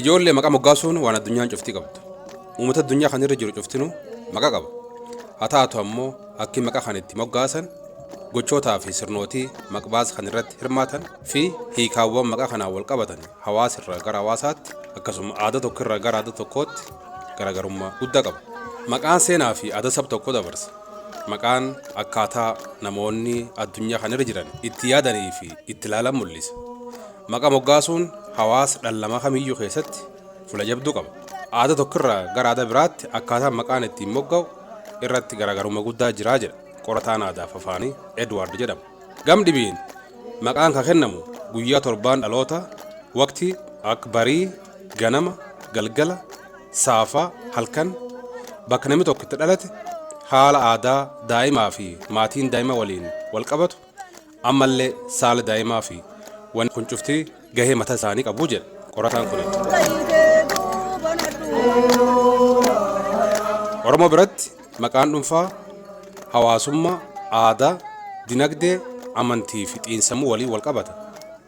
Ijoollee maqaa moggaasuun waan addunyaan cuftii qabdu. Uummata addunyaa kana irra jiru cuftinuu maqaa qaba. Haa taatu ammoo akki maqaa kan itti moggaasan gochootaa fi sirnootii maqbaas kan irratti hirmaatan fi hiikaawwan maqaa kanaan wal qabatan hawaasa irraa gara hawaasaatti akkasuma aadaa tokko irraa gara aadaa tokkootti garaagarummaa guddaa qaba. Maqaan seenaa fi aadaa sab tokkoo dabarsa. Maqaan akkaataa namoonni addunyaa kana irra jiran itti yaadanii fi itti ilaalan mul'isa. Maqa moggaasuun hawaasa dhallama kamiyyu keessatti fula jabdu qaba. Aada tokko irraa gara aada biraatti akkaataan maqaan ittiin mogga'u irratti garaagarumma guddaa jira jedha qorataan aadaaf afaanii Edward jedhamu. Gam dhibiin maqaan ka kennamu guyyaa torbaan dhaloota, waqtii, akka barii, ganama, galgala, saafaa, halkan, bakka namni tokko itti dhalate, haala aadaa daa'imaa fi maatiin daa'ima waliin wal qabatu, Ammallee saala daa'imaa fi wanni kun cufti gahee mata isaanii qabu jedha qorataan kuni. Oromoo biratti maqaan dhunfaa hawaasummaa, aadaa, dinagdee, amantii fi xiinsammuu waliin wal qabata.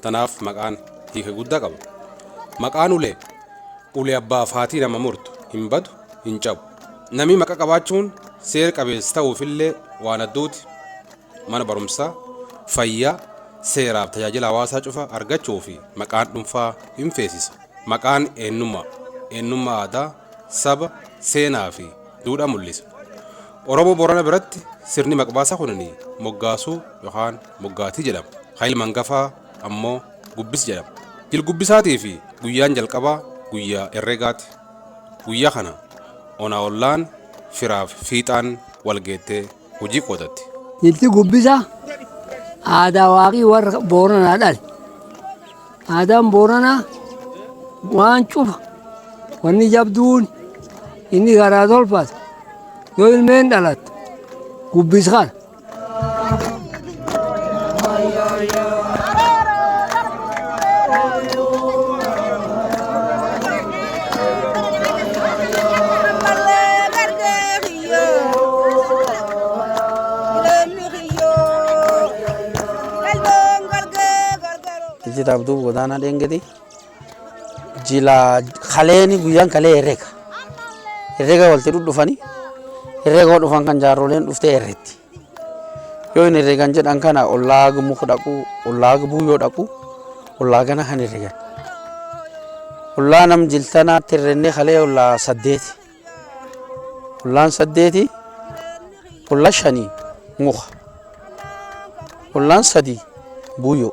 Tanaaf maqaan hiika guddaa qaba. Maqaan ulee ulee abbaa fi haatii nama murtu hin badu hin cabu. Namii maqa qabaachuun seer qabeessa ta'uufillee waan adduuti. mana barumsaa, fayyaa, seeraaf tajaajila hawaasaa cufa argachuu fi maqaan dhunfaa hin feesisa. Maqaan eennummaa, eennummaa aadaa, saba, seenaa fi duudhaa mullisa. Oromoo Boorana biratti sirni maqbaasa kunini moggaasuu yokaan moggaatii jedhama. Ka ilma angafaa ammoo gubbis jedhama. Jilgubbisaatii fi guyyaan jalqabaa guyyaa erregaati. Guyyaa kana ona ollaan firaaf fiixaan wal geettee. hojii qotatte. Nitti gubbisa aadaa waaqii warra booranaa dhale. Aadaan booranaa waan cufa wanni jabduun inni garaa tolfatu yoo ilmeen dhalattu gubbis kana. Ijjita Abduu Godaanaa Dheengeti. Jila kaleeni guyyaan kalee herrega. Herrega walti dhudhufani. Herrega dhufan kan jaarroleen dhuftee herretti. Yoo hin herregan jedhan kana ollaa gumuuf dhaqu, ollaa gubuu yoo dhaqu, ollaa gana kan herregan. Ollaa nam jiltanaatti herrennee kalee ollaa saddeeti. Ollaan saddeeti, olla shanii muka. Ollaan sadii buuyoo.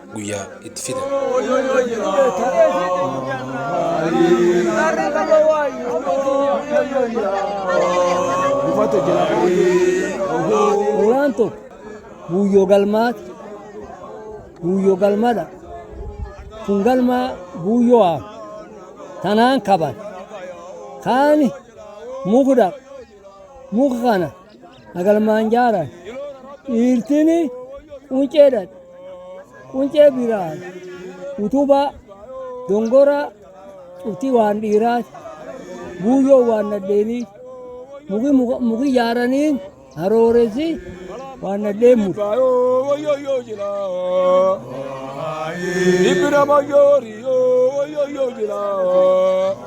guyyaa itti fidan. Suuraan tokko guyyoo galmaati. Guyyoo galmadha. Kun galmaa guyyoo haama. Tanaan kaban. Kaani mukdaq. Muka kana hagalmaan jaaran dhiirtiin quncee dhadhe quncee biraan utubaa dongoraa cuftii waan dhiiraati buuyyoo waan nadheenii muki muka- muki jaaraniin harooressi waan nadheen muka. Ibra Mayori, yo, yo, yo, yo, yo, yo.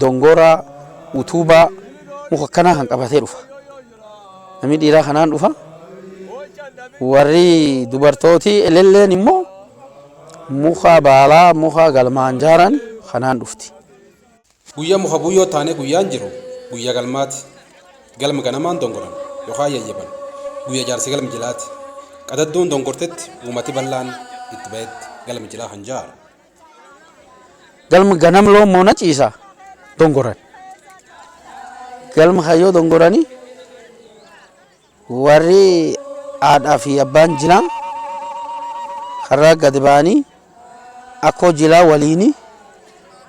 Dongoora, utuubaa, muka akkanaa kan qabatee dhufa. Namni dhiiraa kanaan dhufa. Warri dubartooti elelleen immoo muka baalaa, muka galmaan jaaran kanaan dhufti. Guyyaa muka buuyyoo taanee guyyaan jiru guyyaa galmaati. Galma ganamaan dongoran yookaan yayyaban guyyaa jaarsi galmi jilaati. Qadadduun dongortetti uumati bal'aan itti bahetti galmi jilaa kan jaaru. Galma ganam loon moona ciisa dongoran. Galma kayyoo dongoranii warri haadhaa fi abbaan jilaa karraa gadi ba'anii akkoo jilaa waliini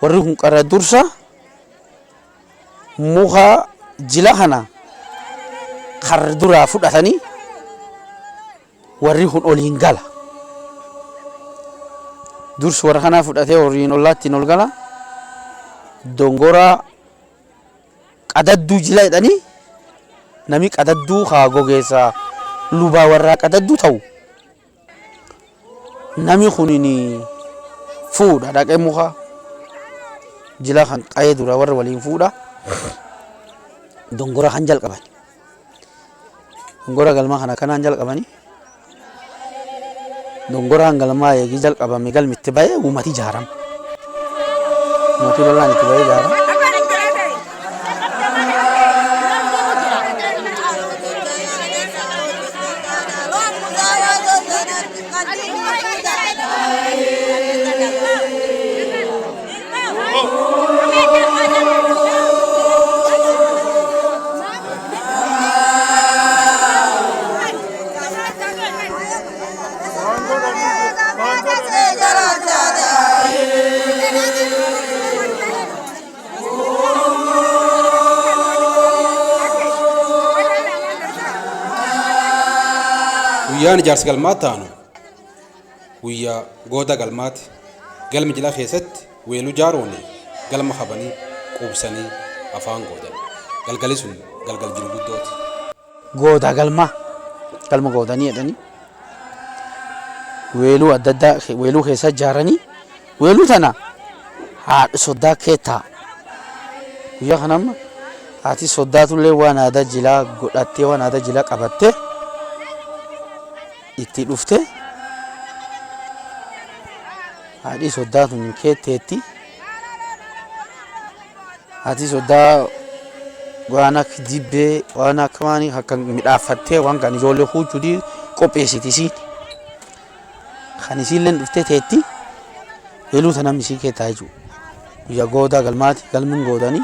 warri kun qarra dursa muka jila kana karra duraa fudhatanii Warri kun oliin gala. Dursi warra kanaa fudhatee horiin ollaattiin ol gala. Dongoraa qadadduu jila jedhanii nami qadadduu haa gogeessa lubaa warraa qadadduu ta'u. Nami kunin fuudha dhaqee muka jila kan qa'ee dura warra waliin fuudha. Dongora kan jalqaban. Dongora galmaa kana kanaan jalqabani. Dongoraan galmaa eegii jalqabame galmi itti ba'ee uummati ijaarama. Uummati bal'aan itti ba'ee ijaarama. Thank you. guyyaan ijaarsa galmaatti aanu Guyyaa Goota Galmaati. Galmi jila keessatti weeluu jaarooni galma kabanii quubsanii afaan goodani. Galgali sun galgal jiru guddooti. Goota Galma, Galma Gootanii jedhanii weeluu adda addaa weeluu keessaa jaaranii weeluu tana haadha soddaa keettaa. Guyyaa kana amma haati soddaatullee waan aadaa jilaa godhattee waan aadaa jilaa qabattee itti dhufte haadhii soddaa tun hin keetteetti haati soddaa waan akka dibbee waan akka waan akka midhaaffattee waan kan ijoollee huuchudii qopheessiti isiin kan isiillee dhuftee teetti heluu tana misii keettaa jechuudha guyyaa goodaa galmaati galmin goodanii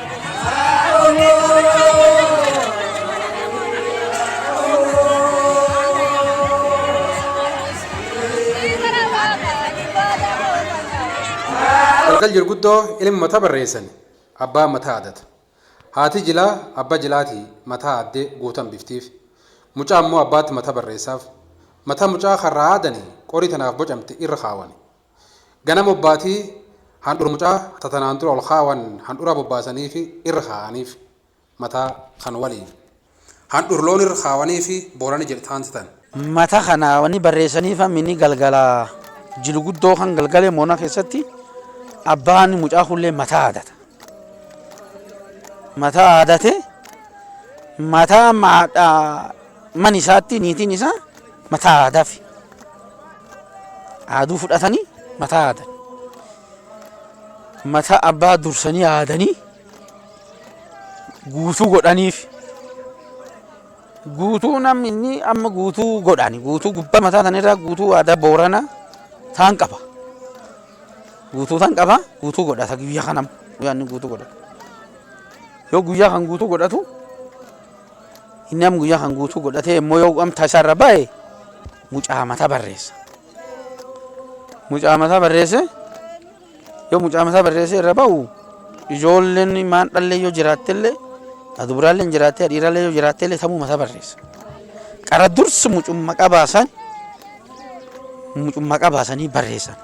Warqal jirguddoo ilmi mata barreessan abbaa mataa adata. Haati jilaa abba jilaati mataa addee guutan biftiif. Mucaa ammoo abbaatti mata barreessaaf. Mata mucaa karraa aadani qorii tanaaf bocamte irra kaawani. Ganama obbaatii handhura mucaa ta tanaan dura ol kaawan handhuraa bobbaasaniifi irra kaa'aniif mata kan waliin. Handhur loon irra kaawaniifi boolani jedhe taanti tan. Mata kana wani barreessaniif hammini galgala jilu guddoo kan galgale moona keessatti abbaan mucaa kunillee mata haadata. Mata haadate mata amma haadha Mana isaatti niitiin isaa mataa aadaafi aaduu fudhatanii mataa aadan. Mataa abbaa dursanii aadanii guutuu godhaniif. Guutuu namni inni amma guutuu godhani. Guutuu gubbaa mataa sanirraa guutuu aadaa booranaa taan qaba. Guutuu tan qaba guutuu godhata guyyaa kanam guyyaa inni guutuu godhatu. Yoo guyyaa kan guutuu godhatu Inni am guyyaa kan guutuu godhatee immoo yoo amta isaa irra ba'e mucaa mataa barreessa. Mucaa mataa barreesse yoo mucaa mataa barreesse irra ba'u ijoolleen maan dhallee yoo jiraattellee adubraalleen jiraattee dhiirallee yoo jiraattellee tamuu mataa barreessa. Qara dursi mucummaa qabaasan mucummaa qabaasanii barreessan.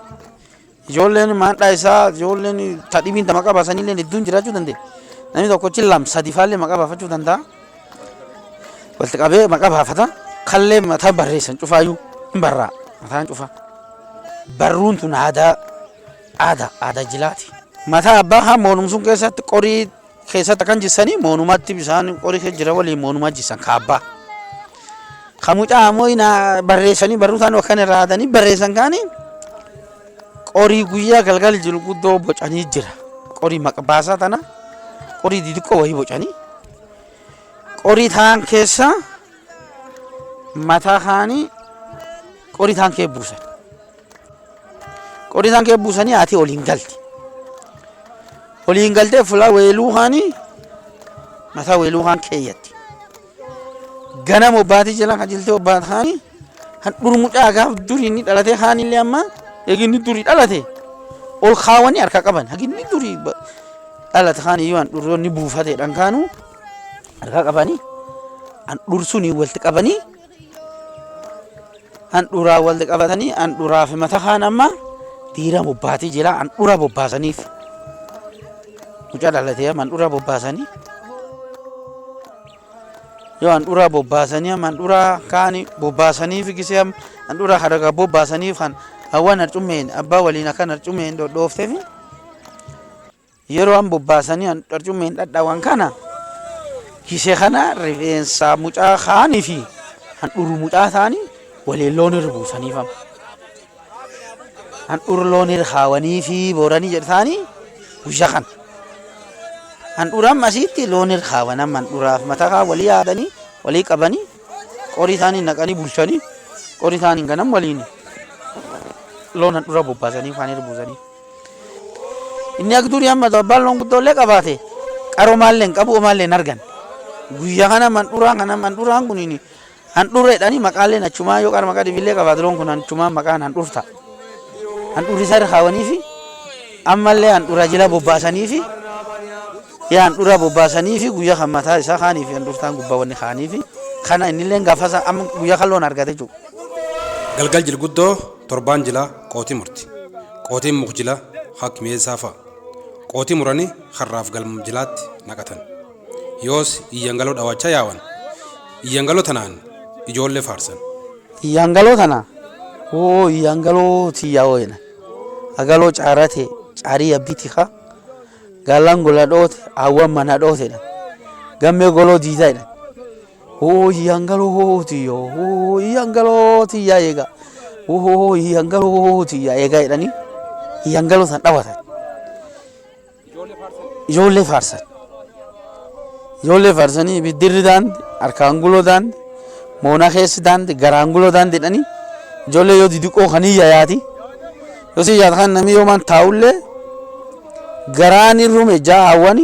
Ijoolleen maandhaa isaa ijoolleen ta dhibiin ta maqaa baasanillee hedduun jiraachuu danda'a. Namni tokkochi lam sadi faallee maqaa baafachuu danda'a. Walitti qabee maqaa baafata. Kallee mataa barreessan cufaayyuu hin barraa mataan cufaa. Barruun tun aadaa aadaa aadaa jilaati. Mataa abbaa haa moonumsuun keessatti qorii keessatti kan jissanii moonumaatti bisaan qorii kee jira waliin moonumaa jissan kaabbaa. Kan mucaa ammoo inaa barreessanii barruutaan akkan irraa haadanii barreessan kaanii qorii guyyaa galgal jiru guddoo bocanii jira. Qorii maqbaasaa tana qorii didiqqoo wayii bocanii qorii taan keessa mataa kaanii qorii taan kee buusan. Qori isaan kee buusanii haati oliin galti. Oliin galtee fulaa weeluu kaanii mataa weeluu kaan keeyyatti. Ganama obbaatii jala qajeeltee obbaat kaanii kan dhurmucaa gaaf durii inni dhalatee kaanillee amma eeginni durii dhalate ol kaawanii harka qaban haginni durii ba- dhalate kaanii yoo an dhurroonni buufateedhaan kaanuu harka qabanii an dhursuun walitti qabanii handhuuraa wal qabatanii handhuuraa fi mata kaan amma diira bobbaatii jira handhuura bobbaasaniif mucaa dhalatee amma handhuura bobbaasanii yoo handhuura bobbaasanii amma handhuura kaan bobbaasaniif gisee amma handhuura haragaa bobbaasaniif kan hawwan harcummeen abbaa waliin akkan harcummeen dhodhoofteefi. Yeroo an bobbaasanii an qarcummeen dhadhawan kana kise kana rifeensa mucaa kaanii fi handhuru mucaa isaanii waliin loon irra buusaniif amma. Handhuru loon irra kaawanii fi booranii jedhu isaanii guyyaa kana. Handhura amma asiitti loon irra kaawan amma handhuraaf mataa kaa walii yaadanii walii qabanii qorii isaanii naqanii bulchanii qorii isaanii ganam waliin loon handhura bobbaasanii kaan irra buusanii. Inni akka durii amma abbaan loon guddoo illee qabaate qaroomaa illee hin qabu homaa illee hin argan. Guyyaa kana mandhuraa kana mandhuraan kun handhureedhaan maqaa illee achumaa yoo qarma qadibi illee qabaate loon kun achumaa maqaan handhurta. Handhurri isaa irra kaawanii fi amma illee handhura jila bobbaasanii fi yaa handhura bobbaasanii fi guyyaa kan mataa isaa kaanii fi handhurtaan gubbaa wanni kaanii fi kana inni illee gaafasa amma guyyaa kan loon argate jiru. Galgal jilguddoo. Torbaan jilaa qooti murti. Qootiin muk jila hak mi'eessaa fa'a. Qooti murani karraaf galm jilaatti naqatan. Yoos iyyangaloo dhawaachaa yaawan. Iyyangaloo tanaan ijoollee faarsan. Iyyangaloo tana woo iyyangaloo tiyya woo jedhan. Agaloo caarra tee caarii yabbii tika. Gaallan gola dhoote, aawwan mana dhoote jedhan. Gammee goloo diida jedhan. Hoo yangaloo tiyya hoo yangaloo tiyya eega hoo yangaloo tiyya eega jedhanii yangaloo san dhawatan. Ijoollee faarsan. Ijoollee faarsanii ibiddirri daandi harkaan guloo daandi moonaa keessi daandi garaan guloo daandi jedhanii ijoollee yoo didiqoo kan hin yayaati. Yoo si yaata kan namni yoomaan taa'ullee garaan irrume jaa'awwani.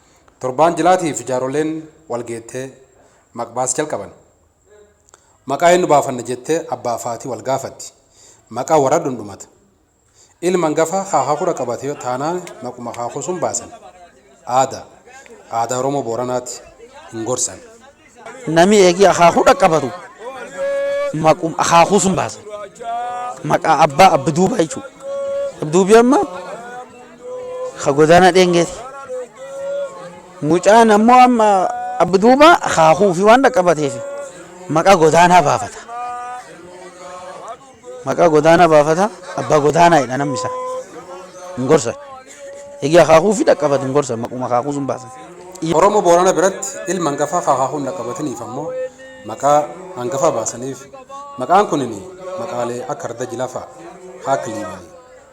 Torbaan jilaatiif jaarolleen walgeettee maqbaas jalqaban. Maqaa eennu baafanna jettee abbaaf haati walgaafatti. Maqaa waradhun dhumata. Ilma angafaa haakakudha qabate taanaan maquma haakuu sun baasan. Aada. Aadaa Oromoo Booranaati. Hin gorsan. Nami eegii akaakuu dhaqqabatu maqum akaakuu sun baasan. Maqaa abbaa abbi duubaa jechuudha. Abbi duubii amma ka godaana dheengeeti. Mucaan ammoo amma abbi duubaa akaakuu fi waan dhaqqabateef maqaa godaanaa baafata. Maqaa godaanaa baafata, abbaa godaanaa jedha namni isaa. Hin gorsan. Egaa akaakuu fi dhaqqabatu hin gorsan maquma akaakuu sun baasan. Oromoo Boorana biratti ilma hangafaa ka akaakuu hin dhaqqabatiniif ammoo maqaa hangafaa baasaniif. Maqaan kunin maqaalee akka Arda Jila fa'a. Haak Liiban.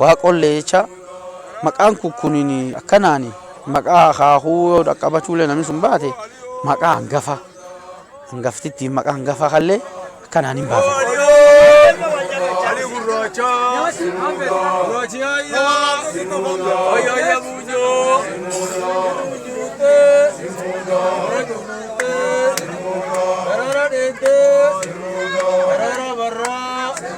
Waaqollee jecha maqaan kun kunin akkanaan maqaa akaakuu yoo dhaqqabachuullee namni sun baate maqaa hangafa hangaftittiin maqaa hangafa kallee akkanaan hin baafata. Thank you.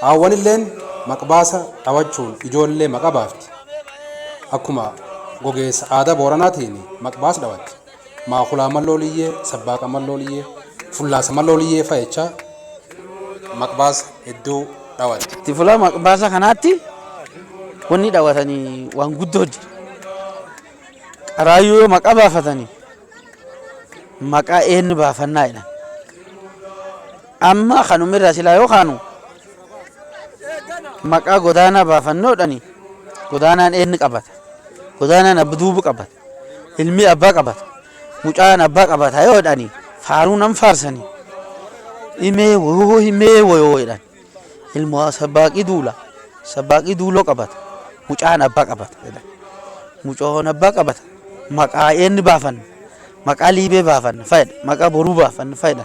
Haawwanilleen maqbaasa dhawachuun ijoollee maqa baafti. Akkuma gogeessa aadaa Booranaatiin maqbaas dhawatti. Maakulaa malloo liyyee, sabbaaqa malloo liyyee, fullaasa malloo liyyee fa'a jechaa maqbaasa hedduu dhawatti. Itti fula maqbaasa kanaatti wanni dhawatani waan guddoo jira. Qaraayyuu yoo maqa baafatani maqaa eennu baafannaa jedhan. Amma kanuma irraa silaa yoo kaanu maqaa godaanaa baafannoodhani godaanaan eenni qabata godaanaan abba duubu qabata ilmi abbaa qabata mucaan abbaa qabata yoo jedhani faaruu nan faarsani himee wayoo himee wayoo jedhan ilmo sabbaaqii duula sabbaaqii duuloo qabata mucaan abbaa qabata jedhan mucoon abbaa qabata maqaa eenni baafanna maqaa liibee baafanna fayyada maqaa boruu baafanna fayyada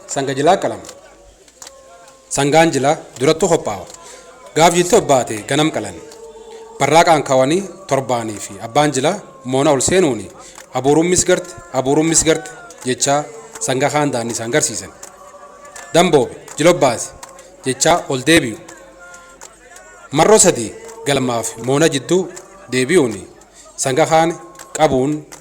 Sanga jilaa qalama. Sangaan jilaa durattu kophaawa. Gaaf jilti obbaate ganam qalani. Barraaqaan kawani torbaani fi abbaan jilaa moona ol seenuuni abuuruun misgarte abuuruun misgarte jechaa sanga kaan daanni isaan garsiisan. Damboobe jila obbaasi jechaa ol deebi'u. Marro sadii galmaafi moona jidduu deebi'uuni sanga kaan qabuun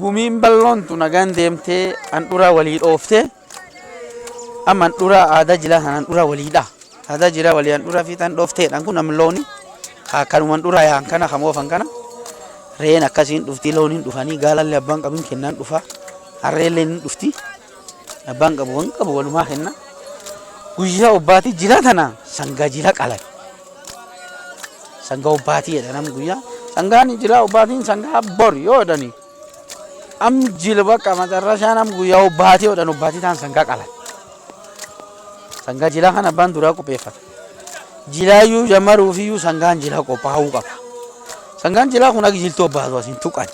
Gumiin balloon tun nagaan deemtee handhuraa walii dhooftee amma handhuraa aadaa jilaa kan handhuraa waliidha. Aadaa jilaa walii handhuraa fi tan dhoofteedhaan kun amma looni kanuma handhuraa yaan kana kan oofan kana reen akkasiin dhufti looniin dhufanii gaalallee abbaan qabin kennaan dhufa harreelleen hin dhufti. Abbaan qabu waan qabu walumaa kenna. Guyyaa obbaatii jilaa tana sangaa jila qalan. Sangaa obbaatii jedha namni guyyaa. Sangaan jilaa obbaatiin sangaa bor yoo jedhani. Am jila bakka macarrashaa nam guyyaa obbaatii jedhan obbaatii ta'an sangaa qalan. Sangaa jilaa kan abbaan duraa qopheeffata. Jilaayyuu jammaruu fi iyyuu sangaan jilaa qophaa'uu qaba. Sangaan jilaa kun akka jiltuu obbaatu as hin tuqan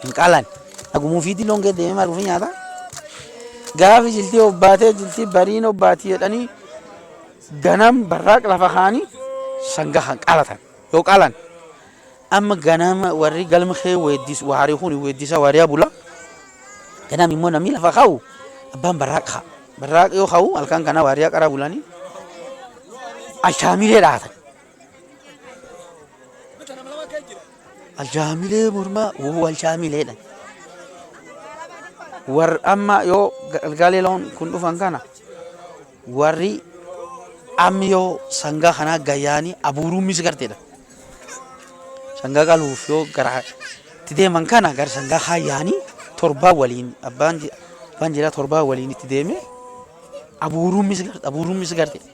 hin qalan. Haguma ufiitii loon kee deemee maal ofii nyaata? Gaafi jiltii obbaatee jiltii bariin obbaati jedhanii ganam barraaq lafa kaanii sanga kan qaalatan yoo qaalan amma ganama warri galma kee weeddis waarii kun weeddisa waarii abula ganam immoo namni lafa kaa'u abbaan barraaq ka'a barraaq yoo kaa'u halkan kana waarii qara bulanii ashaamilee dhaatan. Aljaamilee mormaa wuu aljaamileedha. Warri amma yoo galgaalee loon kun dhufan kana warri ammi yoo sangaa kanaa gayyaanii abuuruun misi garteedha. Sangaa qaluuf yoo gara itti deeman kana gara sangaa kaayyaanii torbaa waliin abbaan abbaan jiraa torbaa waliin itti deemee abuuruun misi garte abuuruun misi garteedha.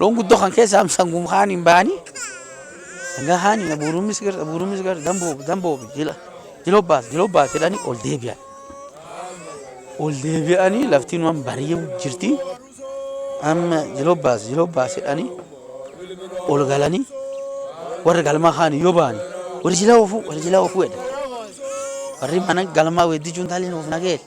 Loon guddoo kan keessaa sangum kaan hin bahanii. Sangaa kaan hin abuurummis gara abuurummis gara damboo damboo jila jila obbaas jila obbaas jedhanii ol deebi'an. Ol deebi'anii laftiin waan bari'u jirti. Amma jila obbaas jila obbaas jedhanii ol galanii warri galmaa kaan yoo bahanii warri jila oofuu warri jila oofuu jedhan. Warri mana galmaa weeddichuun taaliin oofna geesse.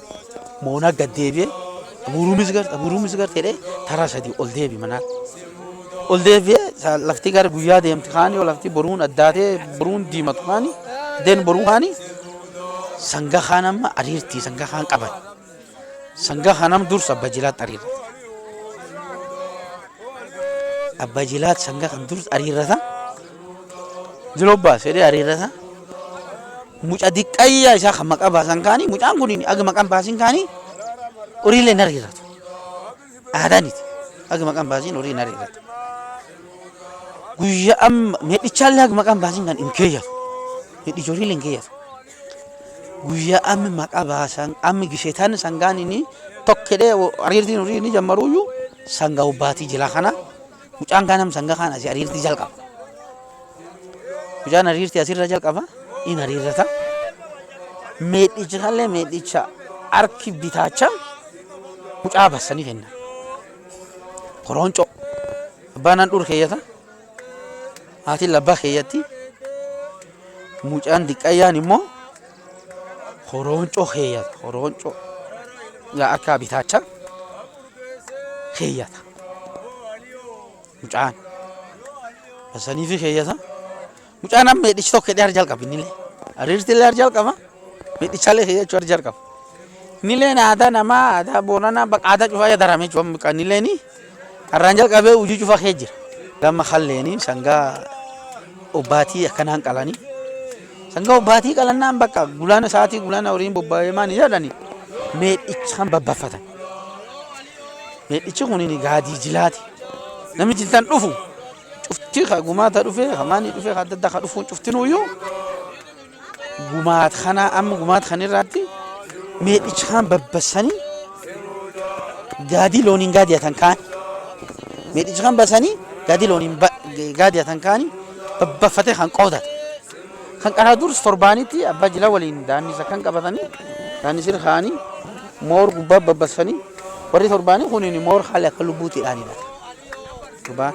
Moonaa gad deebi'ee abuuruumis garte abuuruumis garte jedhee taraa sadii ol deebi manaa. Ol deebi'ee sa- lafti gara guyyaa deemti kaani yoo lafti boruun addaatee boruun diimatu kaani deen boruu kaani sanga kaan amma ariirti sanga kaan qaban. Sanga kanam dursa abba jilaat ariirra. Abba jilaat sanga kan dursa ariirrata. Jiloo baase jedhee hariirra isaa. Muca diqqayyaa isaa kan maqaa baasan kaanii mucaan kun aga maqaan baasin kaanii horiilee hin hariirratu. Aadaaniti aga maqaan baasin horii hin hariirratu. Guyyaa amma medhichaallee aga maqaan baasin kan hin keeyyatu. Medhichi horiilee hin keeyyatu. Guyyaa amma maqaa baasan amma gisheetaan sangaan inni tokkedhee hariirtiin horii inni jammaruyyuu sangaa hubbaatii jila kana. Mucaan kaan sanga kaan asii ariirtii jalqaba. Mucaan ariirtii asirra jalqaba in ariirrata. Meedhicha kanallee meedhicha harki bitaacha mucaa bassanii kenna. Korooncoo abbaan handhuur keeyyata haatiin labbaa keeyyatti mucaan diqqayyaan immoo Horooncoo keeyyata. Horooncoo yaa akka bitaacha keeyyata. Mucaan. Basanii fi keeyyata. Mucaan amma hidhichi tokko hidhee jalqaba innillee. Ariirti illee jalqaba. Hidhichallee keeyyachuu jalqaba. Innilleen aadaa namaa aadaa boonanaa baqa aadaa cufaa yaadaramee jiru. Innilleen Arraan jalqabee hujii cufa kee jira. Gamma kalleeni sangaa obbaatii akkanaan qalani. Sangaa obbaatii qalannaan bakka gulana sa'aatii gulana horiin bobbaa'ee maani jedhani meedhicha kan babbaffatan. Meedhichi kun gaadii jilaati. Namni jiltan dhufu cufti ka gumaata dhufe ka maani dhufe ka adda addaa ka dhufuun cuftinuyyuu gumaat kana amma gumaat kan irraatti meedhicha kaan babbasanii gaadii looniin gaadiyatan kaan meedhicha kan basanii gaadii looniin gaadiyatan kaan babbaffatee kan qoodata. Kan qaraa durus torbaanitti abbaa jila waliin daannisa kan qabatanii daannisir kaanii moor gubbaa babbasfanii warri torbaanii kuniin moor haala akka lubbuutti dhaanidha. Gubbaa.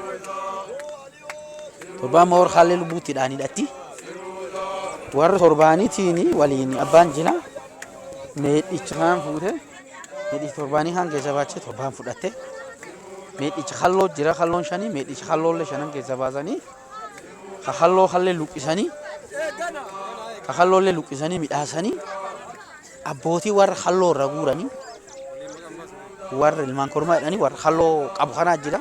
Torbaan Moor Haallee Lubbuutti dhaan hidhatti. Warra torbaanitiin waliin abbaan jila meedhicha kaan fuute. Meedhicha torbaanii kaan keessa baachee torbaan fudhatte. Meedhicha halloo jira halloon shanii meedhicha halloollee shanan keessa baasanii ka halloo hallee luqqisanii ka halloollee luqqisanii midhaasanii abbootii warra halloo irra guuranii warra ilmaan kormaa jedhanii warra halloo qabu kanaa jira.